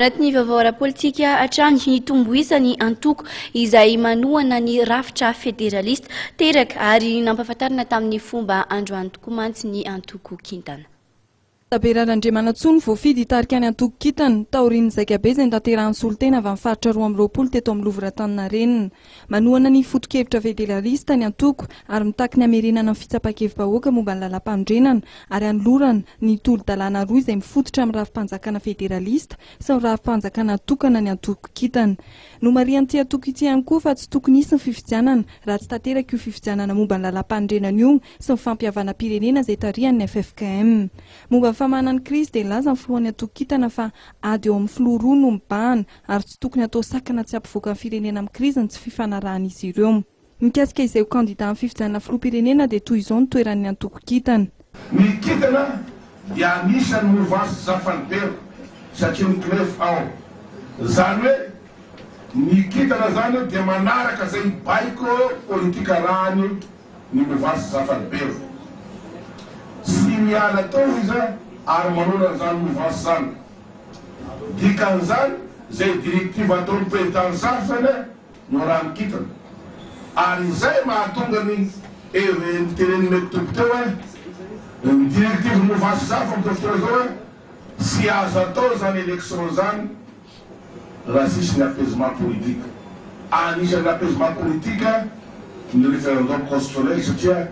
Anaty ny vaovao ara-politika hatrany, nitombo isa ny antoko izay manohana ny rafitra federalista teraka ary nampahafantarina tamin'ny fomba androany tokoa mantsy ny antoko kintana. Tabera Randriamanantsoa no voafidy hitarika ny antoko kintana, taorian'ny zaikabe izay notanterahin'ny solontena avy amin'ny faritra roa amby roapolo teto amin'ny Louvre Antaninarenina. Manohana ny foto-kevitra federalista ny antoko ary mitaky ny hamerenana ny fitsapan-kevi-bahoaka momba ny lalàmpanorenana ary hanolorana ny tolo-dalàna roa izay mifototra amin'ny rafi-panjakana federalista sy ny rafi-panjakana tokana ny antoko kintana. Nomarihan'ity antoko ity ihany koa fa tsy tokony hisy ny fifidianana raha tsy tanteraka io fifidianana momba ny lalàmpanorenana io sy ny fampihavanam-pirenena izay tarihan'ny ffkm. Momba ny famahana ny krizy dia nilaza ny filohan'ny antoko kintana fa ady eo amin'ny filoha roa no mibahana ary tsy tokony hatao sakana tsy hampivoaka ny firenena amin'ny krizy ny tsy fifanarahan'izy ireo. Mikasika izay ho kandidà amin'ny fifidianana filoham-pirenena dia toy izao ny toeran'ny antoko kintana. Ny kintana dia anisan'ny movansy Zafalibera satria miklefy ao. Izany hoe ny kintana izany dia manaraka izay baiko politika arahany ny movansy Zafalibera. Tsy miala toa izy ary manonona izany movansy izany. Dikan'izany, izay directive ataon'ny président Sampson no raha ny kintana. Ary izay mahatonga ny hery niteren'i Me Toby teo hoe, ny directive Mouvance Sampson amin'izao fotoana izao hoe, tsy azo atao izany élection izany raha tsisy ny apaisement politique. Anisan'ny apaisement politique ny référendum constitutionnel satria,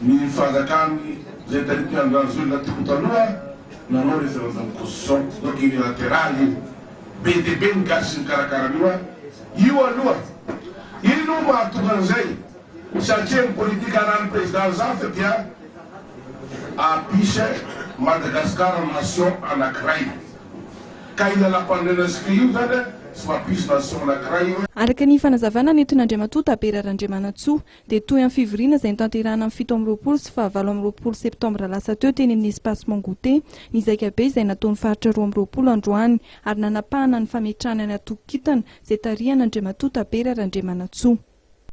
Ny fanjakan'ny Jentilly Andranjoelina teo taloha nanao referendum constitution donc unilateral io. Be dia be ny gasy nikarakara an'io an! Io aloha! Iny hono mahatonga an'izay satria ny politique anan'ny Président Zafy dia Apiche Madagascar nation anankiray. Ka io lalam-panorenana zika io izany tsy mampisy nation anankiray. Araka ny fanazavana nentin'Andriamatoa Tabera Randriamanantsoa, dia toy amin'ny fivoriana izay notanterahina ny fito amby roapolo sy fahavalo amby roapolo septambra lasa teo teny amin'ny Espace Mangoûter ny zaika be izay nataon'ny faritra roa amby roapolo androany ary nanapahana ny fametrahana ny antokon-kintana izay tarihan'Andriamatoa Tabera Randriamanantsoa.